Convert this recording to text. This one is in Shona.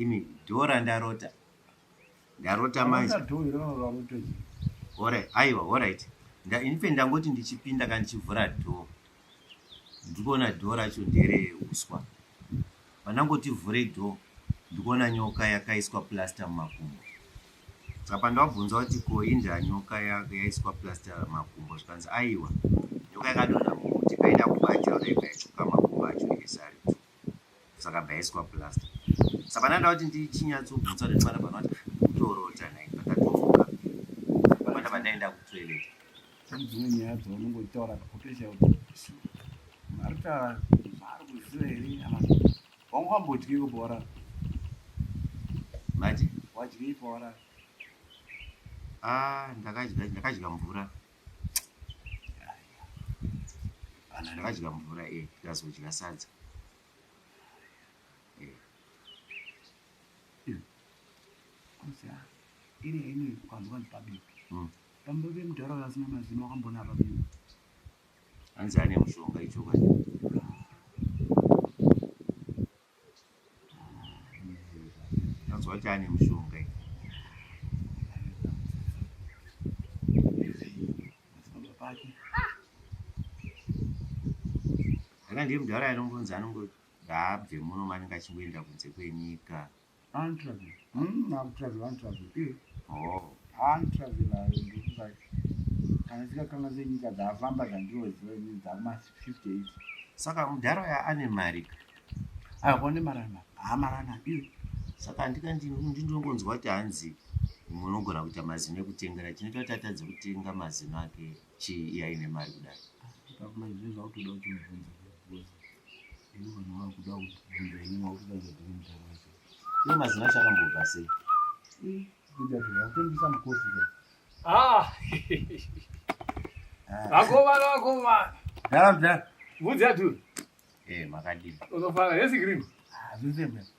imi dhoo randarota ndarota manje ore aiwa orit infe ndangoti ndichipinda ka ndichivhura dhoo ndikuona dhoo racho ndere uswa pandangoti vhure dhoo ndikuona nyoka yakaiswa plaster mumakumbo saka pandavabvunza kuti ko inda nyoka yaiswa plaster makumbo zvikanzi aiwa nyoka yakadonha mukuti kaida kubatira dai kaitsuka makumbo acho nezari saka bhaiswa plaster saka ndanda kuti ndichinyatsobvunzwa nemwana pano kuti kutorota nai pakatomuka mwana pandaenda kutoilet pane dzimwe nyaya dzaunongotaura kakutoita kuti ari kutaura zvaari kuziva here kana wanga wambodyi kubhora mati wadyi ibhora ah, ndakadya ndakadya mvura Kana ndakadya mvura e eh, ndazodya sadza. Eh. Hmm. Iri hainoi kwanzwa ndipabipi. Hmm. Pamba vemudhara vasina mazino wakambona pabipi. Hanzi ane mushonga ichokwadi. Anzwa kuti ane mushonga iyi. Aka ndiye mudhara anongonzi anongo ngaabve muno mani ngachingoenda kunze kwenyika. Antravel. Mm, akutravel antravel. Eh. Oh. Antravel ayo ndikuba. Kana sika kanga zenyika dzafamba dzandiwo ziwe ni dzama 58. Saka mudhara ya ane mari. Ah, kone marana. Ah, marana. Eh. Saka ndika ndino ndinongonzwa kuti hanzi munogona kuita mazino ekutengera chinoita kuti atadze kutenga mazino ake chii iye aine mari kudai iye mazina acho akambobva sei ah! ah. vakomana vakomana dara mdara vudzi yaturi eh, makadii unofara hesi green ah,